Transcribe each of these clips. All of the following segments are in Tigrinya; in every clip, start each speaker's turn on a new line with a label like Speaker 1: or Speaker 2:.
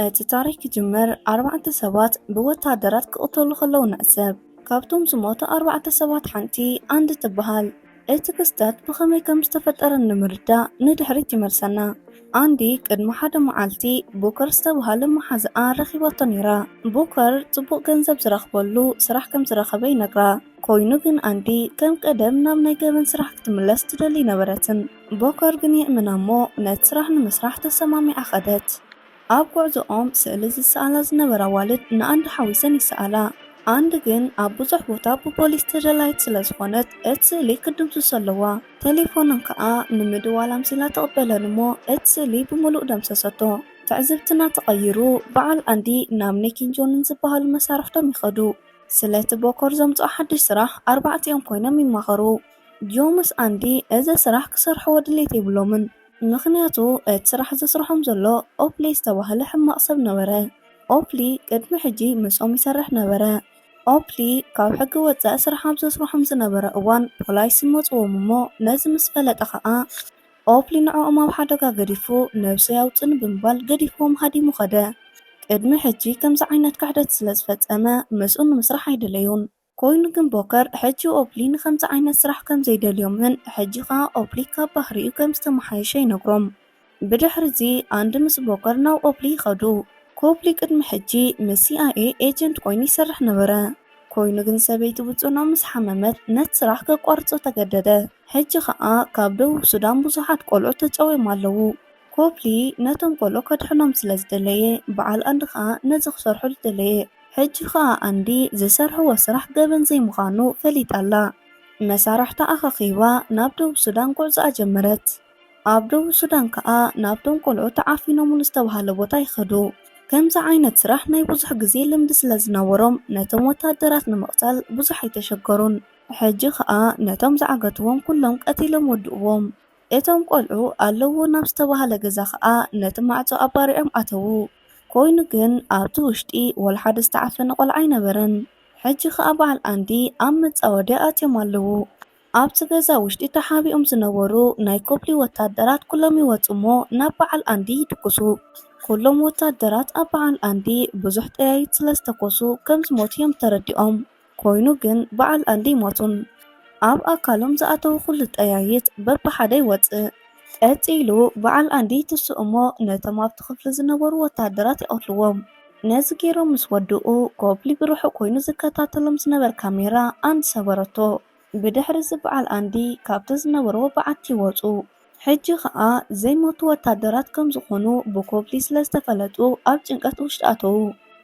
Speaker 1: እቲ ታሪኽ ክጅምር ኣርባዕተ ሰባት ብወተሃደራት ክቕተሉ ከለዉ ንዕዘብ። ካብቶም ዝሞቱ ኣርባዕተ ሰባት ሓንቲ ኣንድ ትበሃል። እቲ ክስተት ብኸመይ ከም ዝተፈጠረ ንምርዳእ ንድሕሪት ይመልሰና። ኣንዲ ቅድሚ ሓደ መዓልቲ ቡከር ዝተብሃለ መሓዝኣ ረኺባቶ ነይራ። ቡከር ጽቡቕ ገንዘብ ዝረኽበሉ ስራሕ ከም ዝረኸበ ይነግራ። ኮይኑ ግን ኣንዲ ከም ቀደም ናብ ናይ ገበን ስራሕ ክትምለስ ትደሊ ኣይነበረትን። ቦከር ግን ይእምና'ሞ ነቲ ስራሕ ንምስራሕ ተሰማሚዓ ከደት። ኣብ ጉዕዞኦም ስእሊ ዝሰኣላ ዝነበራ ኣዋልድ ንኣንድ ሓዊሰን ይሰኣላ። ኣንድ ግን ኣብ ብዙሕ ቦታ ብፖሊስ ተደላይት ስለ ዝኾነት እቲ ስእሊ ክትድምስሶ ኣለዋ። ተሌፎነን ከኣ ንምድዋል ኣምሲላ ትቕበለን'ሞ እቲ ስእሊ ብምሉእ ደምሰሰቶ። ትዕዝብትና ተቐይሩ በዓል ኣንዲ ናብ ኒክን ጆንን ዝበሃሉ መሳርሕቶም ይኸዱ። ስለቲ ቦከር ዘምጽኦ ሓድሽ ስራሕ ኣርባዕቲኦም ኮይኖም ይማኸሩ። ጆምስ ኣንዲ እዚ ስራሕ ክሰርሕዎ ድሌት የብሎምን ምኽንያቱ እቲ ስራሕ ዘስርሖም ዘሎ ኦፕሊ ዝተባህለ ሕማቕ ሰብ ነበረ ኦፕሊ ቅድሚ ሕጂ ምስኦም ይሰርሕ ነበረ ኦፕሊ ካብ ሕጊ ወጻኢ ስራሕ ኣብ ዘስርሖም ዝነበረ እዋን ፖላይስ መጽዎም እሞ ነዚ ምስ ፈለጠ ከኣ ኦፕሊ ንዕኦም ኣብ ሓደጋ ገዲፉ ነብሰይ ኣውጽእኒ ብምባል ገዲፍዎም ሃዲሙ ከደ ቅድሚ ሕጂ ከምዚ ዓይነት ክሕደት ስለ ዝፈጸመ ምስኡ ንምስራሕ ኣይደለዩን ኮይኑ ግን ቦከር ሕጂ ኦፕሊ ንኸምዚ ዓይነት ስራሕ ከም ዘይደልዮምን ሕጂ ከኣ ኦፕሊ ካብ ባህሪኡ ከም ዝተመሓየሸ ይነግሮም። ብድሕሪ'ዚ ኣንዲ ምስ ቦከር ናብ ኦፕሊ ይኸዱ። ኮፕሊ ቅድሚ ሕጂ ምስ ሲኣይኤ ኤጀንት ኮይኑ ይሰርሕ ነበረ። ኮይኑ ግን ሰበይቲ ብጽኑዕ ምስ ሓመመት ነቲ ስራሕ ከቋርጾ ተገደደ። ሕጂ ከኣ ካብ ደቡብ ሱዳን ብዙሓት ቆልዑ ተጨውዮም ኣለዉ። ኮፕሊ ነቶም ቆልዑ ከድሕኖም ስለ ዝደለየ በዓል ኣንዲ ከኣ ነዚ ክሰርሐሉ ደለየ ሕጂ ከኣ ኣንዲ ዝሰርሕዎ ስራሕ ገበን ዘይምኻኑ ፈሊጣ ኣላ መሳርሕታ ኣኻኺባ ናብ ደቡብ ሱዳን ጉዕዞኣ ጀመረት ኣብ ደቡብ ሱዳን ከኣ ናብቶም ቆልዑ ተዓፊኖምሉ ዝተባህለ ቦታ ይኸዱ ከምዚ ዓይነት ስራሕ ናይ ብዙሕ ግዜ ልምዲ ስለ ዝነበሮም ነቶም ወታደራት ንምቕታል ብዙሕ ኣይተሸገሩን ሕጂ ከኣ ነቶም ዝዓገትዎም ኩሎም ቀቲሎም ወድእዎም። እቶም ቆልዑ ኣለዉ ናብ ዝተባህለ ገዛ ከኣ ነቲ ማዕጾ ኣባሪዖም ኣተዉ። ኮይኑ ግን ኣብቲ ውሽጢ ወላሓደ ዝተዓፈነ ቆልዓ ኣይነበረን። ሕጂ ከኣ በዓል ኣንዲ ኣብ መጻወድያ ኣትዮም ኣለዉ። ኣብቲ ገዛ ውሽጢ ተሓቢኦም ዝነበሩ ናይ ኮፕሊ ወታደራት ኩሎም ይወጹ'ሞ ናብ በዓል ኣንዲ ይድቅሱ። ኩሎም ወታደራት ኣብ በዓል ኣንዲ ብዙሕ ጠያይት ስለ ዝተኮሱ ከም ዝሞቱ እዮም ተረዲኦም። ኮይኑ ግን በዓል ኣንዲ ይሞቱን ኣብ ኣካሎም ዝኣተው ኩሉ ጠያይት በብሓደ ይወጽእ። ቀጺሉ በዓል ኣንዲ ይትስኡ እሞ ነቶም ኣብቲ ክፍሊ ዝነበሩ ወተሃደራት ይቐትልዎም። ነዚ ገይሮም ምስ ወድኡ ኮፕሊ ብርሑቕ ኮይኑ ዝከታተሎም ዝነበር ካሜራ ኣንዲ ሰበረቶ። ብድሕሪዚ በዓል ኣንዲ ካብቲ ዝነበርዎ በዓቲ ወጹ። ሕጂ ከኣ ዘይሞቱ ወታደራት ከም ዝኾኑ ብኮፕሊ ስለ ዝተፈለጡ ኣብ ጭንቀት ውሽጢ ኣተዉ።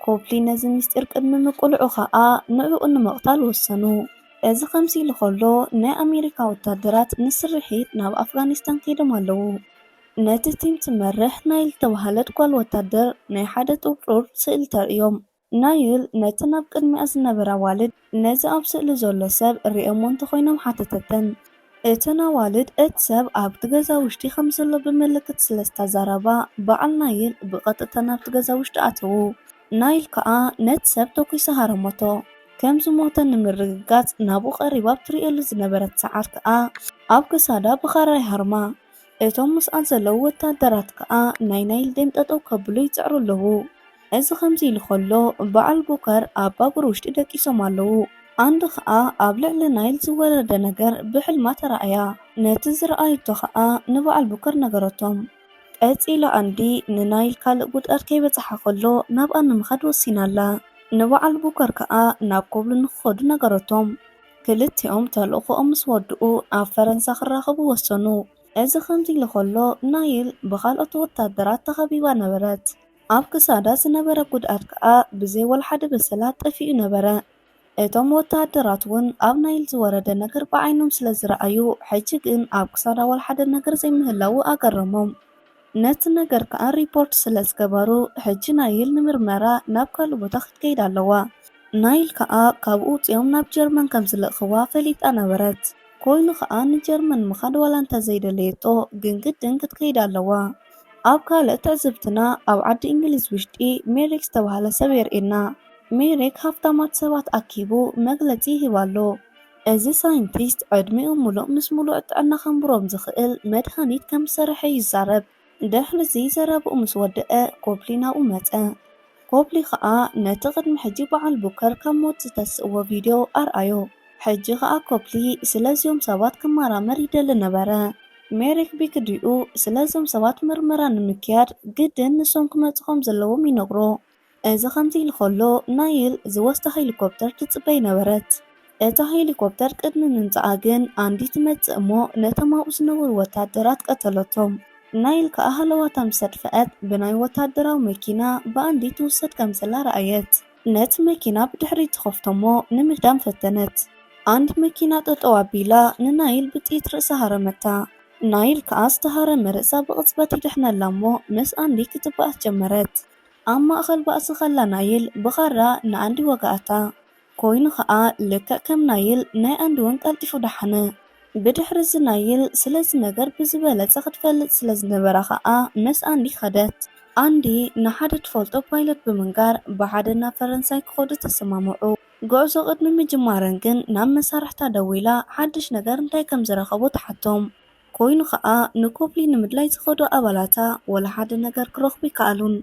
Speaker 1: ኮፕሊ ነዚ ምስጢር ቅድሚ ምቅልዑ ከኣ ንዕኡ ንምቕታል ወሰኑ። እዚ ከምዚ ኢሉ ከሎ ናይ ኣሜሪካ ወታደራት ንስርሒት ናብ ኣፍጋኒስታን ከይዶም ኣለዉ። ነቲ ቲም ትመርሕ ናይል ዝተባህለት ጓል ወታደር ናይ ሓደ ጥርጡር ስእሊ ተርእዮም። ናይል ነቲ ናብ ቅድሚኣ ዝነበረ ኣዋልድ፣ ነዚ ኣብ ስእሊ ዘሎ ሰብ ርእዮሞ እንተኾይኖም ሓተተተን። እተን ኣዋልድ እቲ ሰብ ኣብቲ ገዛ ውሽጢ ከም ዘሎ ብምልክት ስለ ዝተዛረባ፣ በዓል ናይል ብቐጥታ ናብቲ ገዛ ውሽጢ ኣተዉ። ናይል ከኣ ነቲ ሰብ ተኲሳ ሃረሞቶ። ከም ዝሞተ ንምርግጋጽ ናብኡ ቀሪባ ኣብ ትርእየሉ ዝነበረት ሰዓት ከኣ ኣብ ክሳዳ ብኻራ ይሃርማ። እቶም ምስኣን ዘለዉ ወታደራት ከኣ ናይ ናይል ደም ጠጠው ከብሉ ይጽዕሩ ኣለዉ። እዚ ከምዚ ኢሉ ከሎ በዓል ቦከር ኣብ ባቡር ውሽጢ ደቂሶም ኣለዉ። ኣንድ ከኣ ኣብ ልዕሊ ናይል ዝወረደ ነገር ብሕልማ ተራእያ። ነቲ ዝረኣየቶ ከኣ ንበዓል ቦከር ነገረቶም። ቀጺላ ኣንድ ንናይል ካልእ ጉድኣት ከይበጽሓ ከሎ ናብኣ ንምኻድ ወሲና ኣላ። ንበዓል ቦከር ከኣ ናብ ኮብሉ ንክኸዱ ነገረቶም። ክልቲኦም ተልእኾኦም ምስ ወድኡ ኣብ ፈረንሳ ክራኸቡ ወሰኑ። እዚ ከምዚ ኢሉ ከሎ ናይል ብኻልኦት ወታደራት ተኸቢባ ነበረት። ኣብ ክሳዳ ዝነበረ ጉድኣት ከኣ ብዘይ ወልሓደ በሰላ ጠፊኡ ነበረ። እቶም ወታሃደራት ውን ኣብ ናይል ዝወረደ ነገር ብዓይኖም ስለ ዝረኣዩ ሕጂ ግን ኣብ ክሳዳ ወልሓደ ነገር ዘይምህላዉ ኣገረሞም። ነቲ ነገር ከኣ ሪፖርት ስለ ዝገበሩ ሕጂ ናይል ንምርመራ ናብ ካልእ ቦታ ክትከይድ ኣለዋ። ናይል ከኣ ካብኡ ኣውጺኦም ናብ ጀርመን ከም ዝልእኽዋ ፈሊጣ ነበረት። ኮይኑ ከኣ ንጀርመን ምኻድ ዋላ እንተ ዘይደለየቶ ግን ግድን ክትከይድ ኣለዋ። ኣብ ካልእ ትዕዝብትና ኣብ ዓዲ እንግሊዝ ውሽጢ ሜሪክ ዝተባህለ ሰብ የርእየና። ሜሪክ ሃፍታማት ሰባት ኣኪቡ መግለጺ ይህብ ኣሎ። እዚ ሳይንቲስት ዕድሚኦም ምሉእ ምስ ምሉእ ጥዕና ከንብሮም ዝኽእል መድሃኒት ከም ዝሰርሐ ይዛረብ። ድሕሪ'ዚ ዘረብኡ ምስ ወደኣ ኮፕሊ ናብኡ መጸ። ኮፕሊ ኸኣ ነቲ ቅድሚ ሕጂ ብዓል ቡከር ካብ ሞት ዝተስእዎ ቪድዮ ኣርኣዮ። ሕጂ ኸኣ ኮፕሊ ስለ'ዚኦም ሰባት ክመራመር ይደሊ ነበረ። ሜሪክ ቢክድኡ ስለ'ዞም ሰባት ምርመራ ንምክያድ ግድን ንሶም ክመጹ ከም ዘለዎም ይነግሮ። እዚ ከምዚ ኢሉ ከሎ፣ ናይል ዝወስዳ ሄሊኮፕተር ትጽበይ ነበረት። እታ ሄሊኮፕተር ቅድሚ ምምጻኣ ግን ኣንዲ ትመጽእ እሞ ነቶም ኣብኡ ዝነበሩ ወተሃደራት ቀተለቶም። ናይል ከኣ ሃለዋታ ምስ ኣጥፍኣት ብናይ ወተሃደራዊ መኪና ብኣንዲ ትውሰድ ከም ዘላ ረኣየት። ነቲ መኪና ብድሕሪት ትኸፍቶ እሞ ንምህዳም ፈተነት። ኣንዲ መኪና ጠጠው ኣቢላ ንናይል ብጥይት ርእሳ ሃረመታ። ናይል ከኣ ዝተሃረመ ርእሳ ብቕጽበት ይድሕነላ እሞ ምስ ኣንዲ ክትባኣስ ጀመረት። ኣብ ማእከል ባእሲ ከላ ናይል ብኻራ ንኣንዲ ወግኣታ። ኮይኑ ከኣ ልክዕ ከም ናይል ናይ ኣንዲ'ውን ቀልጢፉ ደሓነ። ብድሕሪ'ዚ ናይል ስለዚ ነገር ብዝበለጸ ክትፈልጥ ስለ ዝነበራ ከኣ ምስ ኣንዲ ከደት። ኣንዲ ንሓደ ትፈልጦ ፓይለት ብምንጋር ብሓደ ናብ ፈረንሳይ ክኸዱ ተሰማምዑ። ጉዕዞ ቅድሚ ምጅማረን ግን ናብ መሳርሕታ ደዊላ ሓድሽ ነገር እንታይ ከም ዝረኸቡ ትሓቶም። ኮይኑ ከኣ ንኮብሊ ንምድላይ ዝኸዱ ኣባላታ ወላ ሓደ ነገር ክረኽቡ ኣይከኣሉን።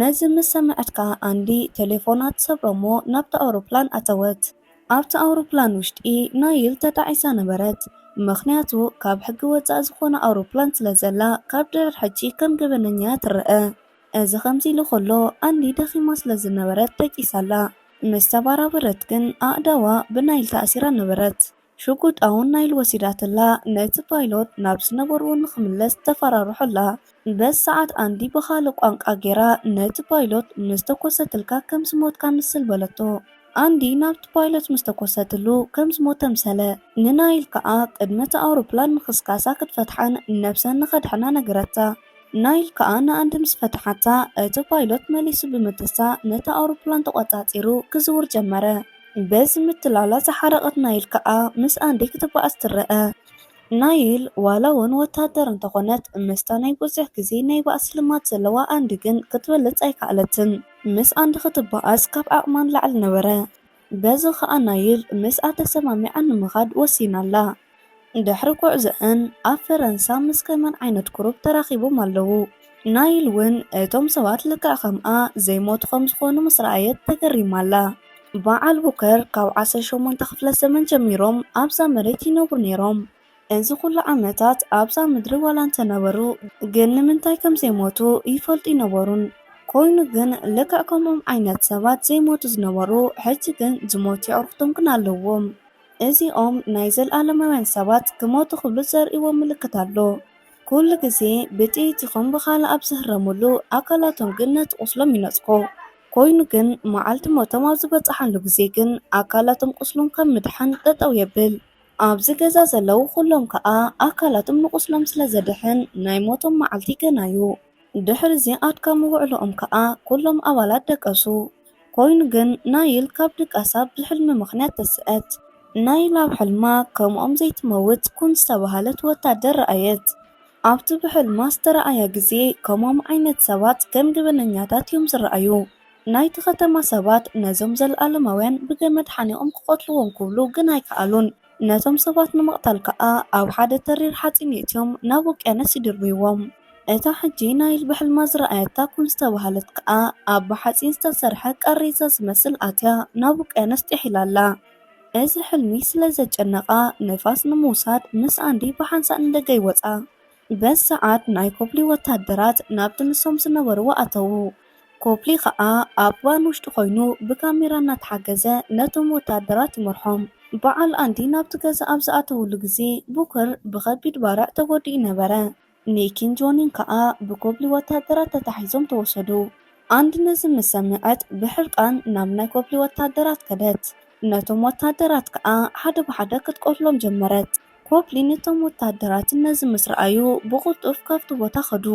Speaker 1: ነዚ ምስ ሰምዐት ከኣ ኣንዲ ተሌፎና ትሰብሮ'ሞ ናብታ ኣውሮፕላን ኣተወት። ኣብታ ኣውሮፕላን ውሽጢ ናይል ተጣዒሳ ነበረት። ምኽንያቱ ካብ ሕጊ ወጻኢ ዝኾነ ኣውሮፕላን ስለ ዘላ ካብ ድሕር ሕጂ ከም ገበነኛ'ያ ትረኣ። እዚ ከምዚ ኢሉ ከሎ ኣንዲ ደኺማ ስለ ዝነበረት ደቂሳ ኣላ። ምስ ተባራበረት ግን ኣእዳዋ ብናይል ተኣሲራ ነበረት። ሽጉጣ'ውን ናይ ኢሉ ወሲዳትላ። ነቲ ፓይሎት ናብ ዝነበርዎ ንኽምለስ ተፈራርሖ'ላ። በዚ ሰዓት ኣንዲ ብኻልእ ቋንቛ ጌራ ነቲ ፓይሎት ምስ ተኮሰትልካ ከም ዝሞትካ ምስል በለቶ። ኣንዲ ናብቲ ፓይሎት ምስ ተኮሰትሉ ከም ዝሞተ ምሰለ። ንናይል ከኣ ቅድሚ እታ ኣውሮፕላን ምኽስካሳ ክትፈትሓን ነብሰን ንኸድሕና ነገረታ። ናይል ከኣ ንኣንድ ምስ ፈትሓታ፣ እቲ ፓይሎት መሊሱ ብምትሳእ ነታ ኣውሮፕላን ተቖጻጺሩ ክዝውር ጀመረ። በዚ ምትላላ ዝሓረቐት ናይል ከኣ ምስ ኣንዲ ክትበኣስ ትረኣ። ናይል ዋላ'ውን ወተሃደር እንተኾነት፣ ምስታ ናይ ብዙሕ ግዜ ናይ ባእሲ ልማድ ዘለዋ ኣንዲ ግን ክትበልጽ ኣይከኣለትን። ምስ ኣንዲ ክትበኣስ ካብ ዓቕማ ንላዕሊ ነበረ። በዚ ኸኣ ናይል ምስኣ ተሰማሚዓ ንምኻድ ወሲና ኣላ። ድሕሪ ጉዕዞኣን ኣብ ፈረንሳ ምስ ከመን ዓይነት ቁሩብ ተራኺቦም ኣለዉ። ናይል ውን እቶም ሰባት ልክዕ ከምኣ ዘይሞቱ ከም ዝኾኑ ምስ ረኣየት ተገሪማ ኣላ። በዓል ቡከር ካብ ዓሰርተ ሸሞንተ ክፍለ ዘመን ጀሚሮም ኣብዛ መሬት ይነብሩ ነይሮም። እዚ ኹሉ ዓመታት ኣብዛ ምድሪ ዋላ እንተነበሩ ግን ንምንታይ ከም ዘይሞቱ ይፈልጡ ኣይነበሩን ኮይኑ ግን ልክዕ ከምኦም ዓይነት ሰባት ዘይሞቱ ዝነበሩ ሕጂ ግን ዝሞቱ የዕሩኽቶም ግን ኣለዎም እዚኦም ናይ ዘልኣለማውያን ሰባት ክሞቱ ክብሉ ዘርእይዎ ምልክት ኣሎ ኩሉ ግዜ ብጥይት ይኹን ብኻልእ ኣብ ዝህረምሉ ኣካላቶም ግን ነቲ ቁስሎም ይነጽጎ ኮይኑ ግን መዓልቲ ሞቶም ኣብ ዝበጽሓሉ ግዜ ግን ኣካላቶም ቁስሎም ካብ ምድሓን ጠጠው የብል። ኣብዚ ገዛ ዘለዉ ዅሎም ከኣ ኣካላቶም ንቝስሎም ስለ ዘድሕን፣ ናይ ሞቶም መዓልቲ ገና እዩ። ድሕርዚ ኣድካሚ ውዕሎኦም ከኣ ኵሎም ኣባላት ደቀሱ። ኰይኑ ግን፣ ናይል ካብ ድቃሳ ብሕልሚ ምኽንያት ተስእት። ናይል ኣብ ሕልማ ከምኦም ዘይትመውት ኵን ዝተባህለት ወታደር ረኣየት። ኣብቲ ብሕልማ ዝተራእያ ግዜ፣ ከምኦም ዓይነት ሰባት ከም ገበነኛታት እዮም ዝረኣዩ። ናይቲ ኸተማ ሰባት ነዞም ዘለኣለማውያን ብገመድ ሓኒቖም ኪቐትልዎም ኪብሉ ግን ኣይከኣሉን። ነቶም ሰባት ንምቕታል ከኣ ኣብ ሓደ ተሪር ሓጺን የእትዮም ናብ ውቅያኖስ ይድርብይዎም። እታ ሕጂ ናይል ብሕልማ ዝረኣየታ ኩን ዝተባህለት ከኣ ኣብ ብሓጺን ዝተሰርሐ ቃሬዛ ዚመስል ኣትያ ናብ ውቅያኖስ ጥሒላ ኣላ። እዚ ሕልሚ ስለ ዘጨነቓ፣ ንፋስ ንምውሳድ ምስ ኣንዲ ብሓንሳእ ንደገ ይወጻ። በዚ ሰዓት ናይ ኮፕሊ ወታደራት ናብቲ ንሶም ዝነበርዎ ኣተዉ። ኮፕሊ ከኣ ኣብ ቫን ውሽጢ ኮይኑ ብካሜራ እናተሓገዘ ነቶም ወታደራት ይመርሖም። በዓል ኣንዲ ናብቲ ገዛ ኣብ ዝኣተውሉ ግዜ ቡከር ብኸቢድ ባርዕ ተጎዲኡ ነበረ። ኒኪን ጆኒን ከኣ ብኮፕሊ ወታደራት ተታሒዞም ተወሰዱ። ኣንዲ ነዚ ምስ ሰምዐት ብሕርቃን ናብ ናይ ኮፕሊ ወታደራት ከደት። ነቶም ወታደራት ከኣ ሓደ ብሓደ ክትቆርሎም ጀመረት። ኮፕሊን እቶም ወተሃደራትን ነዚ ምስ ረኣዩ ብቕልጡፍ ካብቲ ቦታ ከዱ።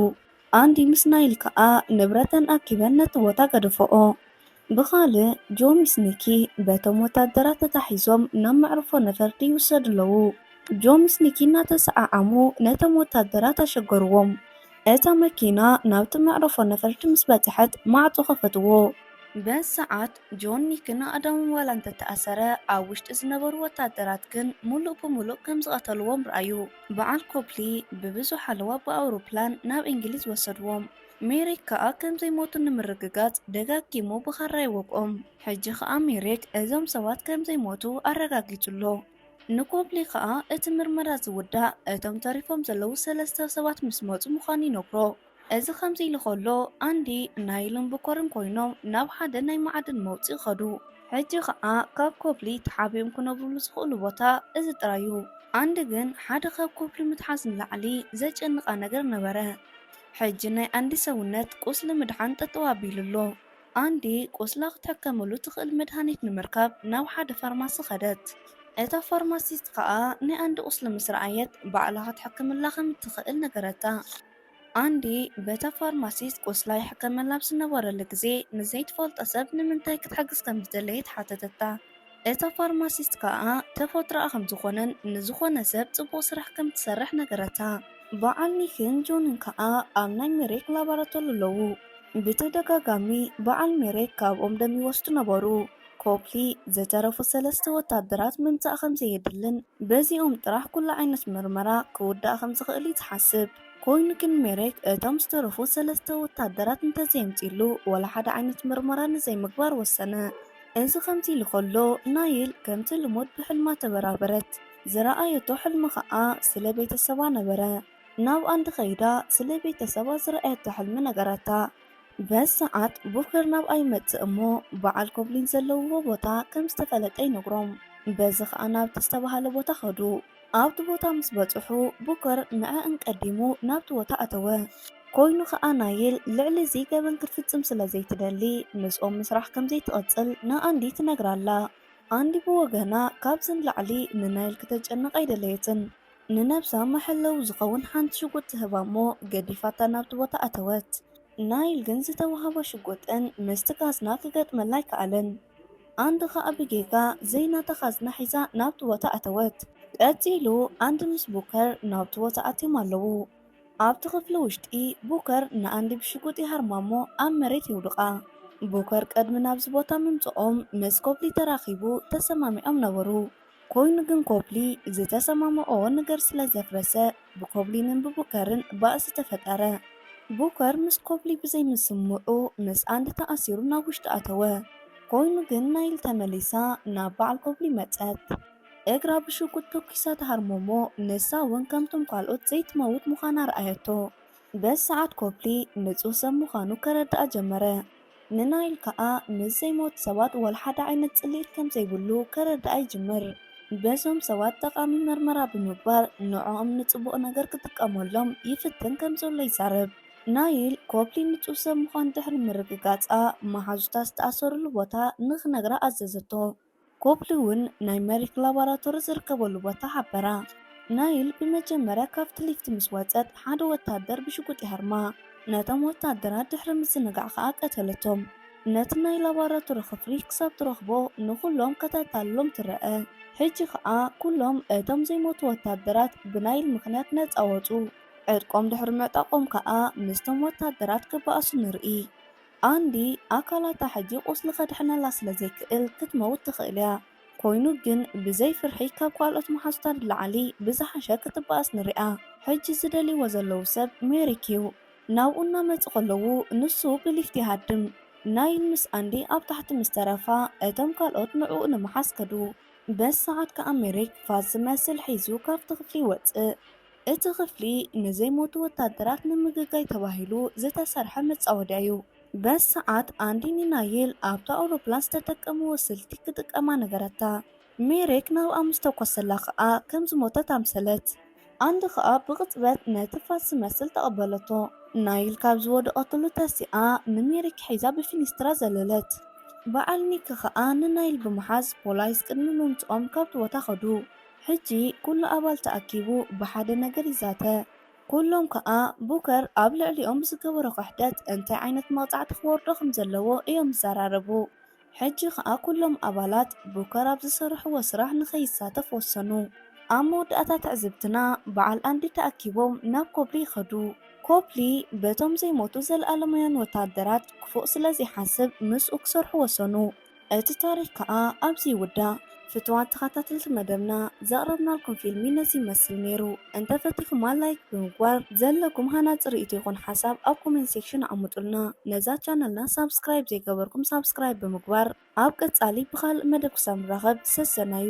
Speaker 1: ኣንዲ ምስ ናይል ከኣ ንብረተን ኣኪበን ነቲ ቦታ ገደፈኦ። ብኻልእ፣ ጆ ምስ ኒኪ በቶም ወተሃደራት ተታሒዞም ናብ መዕርፎ ነፈርቲ ይውሰዱ ኣለዉ። ጆ ምስ ኒኪ እናተሰዓዓሙ ነቶም ወተሃደራት ኣሸገርዎም። እታ መኪና ናብቲ መዕርፎ ነፈርቲ ምስ በጽሐት ማዕጾ ከፈትዎ። በዚ ሰዓት ጆን ኒክን ኣእዳዎም ዋላ እንተ ተኣሰረ፣ ኣብ ውሽጢ ዝነበሩ ወተሃደራት ግን ምሉእ ብምሉእ ከም ዝቐተልዎም ርኣዩ። በዓል ኮፕሊ ብብዙሕ ሓለዋ ብኣውሮፕላን ናብ እንግሊዝ ወሰድዎም። ሜሪክ ከኣ ከም ዘይሞቱ ንምርግጋጽ ደጋጊሙ ብኻራ ይወግኦም። ሕጂ ኸኣ ሜሪክ እዞም ሰባት ከም ዘይሞቱ ኣረጋጊጹ ኣሎ። ንኮፕሊ ኸኣ እቲ ምርመራ ዝውዳእ እቶም ተሪፎም ዘለዉ ሰለስተ ሰባት ምስ መጹ ምዃኑ ይነግሮ። እዚ ከምዚ ኢሉ ከሎ ኣንዲ ናይልን ቡከርን ኮይኖም ናብ ሓደ ናይ መዓድን መውጽኢ ከዱ። ሕጂ ከኣ ካብ ኮፕሊ ተሓቢኦም ክነብሩሉ ዝኽእሉ ቦታ እዚ ጥራይ እዩ። ኣንዲ ግን ሓደ ካብ ኮፕሊ ምትሓዝ ንላዕሊ ዘጨንቓ ነገር ነበረ። ሕጂ ናይ ኣንዲ ሰውነት ቁስሊ ምድሓን ጠጠው ኣቢሉ ኣሎ። ኣንዲ ቁስላ ክትሕከመሉ ትኽእል መድሃኒት ንምርካብ ናብ ሓደ ፋርማሲ ከደት። እታ ፋርማሲስት ከኣ ናይ ኣንዲ ቁስሊ ምስ ረኣየት ባዕላ ክትሕክምላ ከም እትኽእል ነገረታ። ኣንዲ በታ ፋርማሲስት ቁስላ ይሕከመላ ኣብ ዝነበረሉ ግዜ፣ ንዘይትፈልጦ ሰብ ንምንታይ ክትሕግዝ ከም ዝደለየት ሓተተታ። እታ ፋርማሲስት ከኣ ተፈጥሮኣ ከም ዝኾነን ንዝኾነ ሰብ ጽቡቕ ስራሕ ከም እትሰርሕ ነገረታ። በዓል ኒክን ጆንን ከኣ ኣብ ናይ ሜሬክ ላቦራቶሪ ኣለዉ። ብተደጋጋሚ በዓል ሜሬክ ካብኦም ደም ይወስዱ ነበሩ። ኮፕሊ ዝተረፉ ሰለስተ ወታደራት ምምጻእ ከም ዘየድልን በዚኦም ጥራሕ ኩሉ ዓይነት መርመራ ክውዳእ ከም ዝኽእል'ዩ ዝሓስብ። ኮይኑ ግን ሜሬክ እቶም ዝተረፉ ሰለስተ ወታደራት እንተዘየምጺኡሉ ዋላ ሓደ ዓይነት መርመራ ንዘይምግባር ወሰነ። እዚ ከምዚ ኢሉ ከሎ ናይል ከምቲ ልሙድ ብሕልማ ተበራበረት። ዝረኣየቶ ሕልሚ ከኣ ስለ ቤተሰባ ነበረ። ናብኣን ተኸይዳ ስለ ቤተሰባ ዝረኣየቶ ሕልሚ ነገራታ። በዚ ሰዓት ቡከር ናብኣ ይመጽእ እሞ በዓል ኮብሊን ዘለውዎ ቦታ ከም ዝተፈለጠ ይነግሮም። በዚ ከኣ ናብቲ ዝተባህለ ቦታ ከዱ። ኣብቲ ቦታ ምስ በጽሑ ቡከር ንዐኣን ቀዲሙ ናብቲ ቦታ ኣተወ። ኮይኑ ከኣ ናይል ልዕሊ እዚ ገበን ክትፍጽም ስለ ዘይትደሊ ምስኦም ምስራሕ ከም ዘይትቕጽል ንኣንዲ ትነግራ ኣላ። ኣንዲ ብወገና ካብዚ ንላዕሊ ንናይል ክተጨንቕ ኣይደለየትን። ንነብሳ መሐለዊ ዝኸውን ሓንቲ ሽጉጥ ትህባ'ሞ ገዲፋታ ናብቲ ቦታ ኣተወት። ናይል ግን ዝተወሃባ ሽጉጥን ምስቲ ካዝና ክገጥመላ ኣይከኣለን። ኣንድ ከኣ ብጌጋ ዘይናታ ካዝና ሒዛ ናብቲ ቦታ ኣተወት። ቀጺሉ ኣንድ ምስ ቡከር ናብቲ ቦታ ኣትዮም ኣለዉ። ኣብቲ ክፍሊ ውሽጢ ቡከር ንኣንድ ብሽጉጥ ይሃርማ'ሞ ኣብ መሬት የውድቓ። ቡከር ቅድሚ ናብዚ ቦታ ምምጽኦም ምስ ኮፕሊ ተራኺቡ ተሰማሚዖም ነበሩ። ኮይኑ ግን ኮፕሊ ዝተሰማምዕዎ ነገር ስለ ዘፍረሰ ብኮፕሊንን ብቡከርን ባእሲ ተፈጠረ። ቡከር ምስ ኮፕሊ ብዘይ ምስምምዑ ምስ ኣንዲ ተኣሲሩ ናብ ውሽጢ ኣተወ። ኮይኑ ግን ናይል ተመሊሳ ናብ በዓል ኮፕሊ መጸት። እግራ ብሽጉጥ ተኲሳ ትሃርሞ'ሞ ንሳ ውን ከምቶም ካልኦት ዘይትመውት ምዃና ኣርኣየቶ። በዚ ሰዓት ኮፕሊ ንጹህ ሰብ ምዃኑ ከረድኣ ጀመረ። ንናይል ከኣ ምስ ዘይሞቱ ሰባት ዋላ ሓደ ዓይነት ጽልኢት ከም ዘይብሉ ከረድኣ ይጅምር። በዞም ሰባት ጠቓሚ መርመራ ብምግባር ንዕኦም ንጽቡቕ ነገር ክጥቀመሎም ይፍትን ከም ዘሎ ይዛረብ። ናይል፣ ኮፕሊ ንጹህ ሰብ ምዃኑ ድሕሪ ምርግጋጻ፣ መሓዙታ ዝተኣሰርሉ ቦታ ንኽነግራ ኣዘዘቶ። ኮፕሊ እውን ናይ መሪክ ላባራቶሪ ዝርከበሉ ቦታ ሓበራ። ናይል ብመጀመርያ ካብቲ ሊፍት ምስ ወጸት ሓደ ወተሃደር ብሽጉጥ ይሃርማ። ነቶም ወተሃደራት ድሕሪ ምዝንጋዕ ከኣ ቀተለቶም። ነቲ ናይ ላባራቶሪ ክፍሊ ክሳብ ትረኽቦ ንኹሎም ከተታልሎም ትረኣ። ሕጂ ከኣ ኩሎም እቶም ዘይሞቱ ወተሃደራት ብናይል ምኽንያት ነጻ ወጹ። ዕጥቆም ድሕሪ ምዕጣቖም ከኣ ምስቶም ወተሃደራት ክበኣሱ ንርኢ። ኣንዲ ኣካላታ ሕጂ ቁስሊ ከድሕነላ ስለ ዘይክእል ክትመውት ትኽእል እያ ኮይኑ ግን ብዘይ ፍርሒ ካብ ካልኦት መሓዙታ ንላዕሊ ብዝሓሸ ክትባኣስ ንሪኣ ሕጂ ዝደልይዎ ዘለዉ ሰብ ሜሪክ እዩ ናብኡ እናመጹ ከለዉ ንሱ ብሊፍት ይሃድም ናይል ምስ ኣንዲ ኣብ ታሕቲ ምስ ተረፋ እቶም ካልኦት ንዕኡ ንምሓዝ ከዱ በዚ ሰዓት ከኣ ሜሪክ ፋስ ዝመስል ሒዙ ካብቲ ክፍሊ ይወጽእ እቲ ክፍሊ ንዘይሞቱ ወታደራት ንምግጋይ ተባሂሉ ዝተሰርሐ መጻወድያ እዩ። በዚ ሰዓት ኣንዲኒ ናይል ኣብታ ኣውሮፕላን ዝተጠቀምዎ ስልቲ ክጥቀማ ነገረታ። ሜሬክ ናብኣ ምስ ተኮሰላ ከኣ ከም ዝሞተት ኣምሰለት። ኣንዲ ከኣ ብቕጽበት ነቲ ፋስ ዝመስል ተቐበለቶ። ናይል ካብ ዝወደቐትሉ ተሲኣ ንሜሬክ ሒዛ ብፊኒስትራ ዘለለት። በዓል ኒክ ከኣ ንናይል ብምሓዝ ፖላይስ ቅድሚ ምምጽኦም ካብቲ ቦታ ከዱ። ሕጂ ኩሉ ኣባል ተኣኪቡ ብሓደ ነገር ይዛተ። ኩሎም ከኣ ቡከር ኣብ ልዕሊኦም ብዝገበሮ ክሕደት እንታይ ዓይነት መቕጻዕቲ ክወርዶ ከም ዘለዎ እዮም ዝዘራረቡ። ሕጂ ከኣ ኩሎም ኣባላት ቡከር ኣብ ዝሰርሕዎ ስራሕ ንኸይሳተፍ ወሰኑ። ኣብ መወዳእታ ትዕዝብትና በዓል ኣንዲ ተኣኪቦም ናብ ኮፕሊ ይኸዱ። ኮፕሊ በቶም ዘይሞቱ ዘለኣለማውያን ወተሃደራት ክፉእ ስለ ዘይሓስብ ምስኡ ክሰርሑ ወሰኑ። እቲ ታሪክ ከኣ ኣብዚ ይውዳእ። ፍቱዋት ተኸታተልቲ መደብና ዘቕረብናልኩም ፊልሚ ነዚ ይመስል ነይሩ። እንተ ፈቲኹማ ላይክ ብምግባር ዘለኩም ሃናጺ ርእይቶ ይኹን ሓሳብ ኣብ ኮሜንት ሴክሽን ኣቐምጡልና። ነዛ ቻነልና ሳብስክራይብ ዘይገበርኩም ሳብስክራይብ ብምግባር ኣብ ቀጻሊ ብኻልእ መደብ ክሳብ ንራኸብ ሰሰናዩ።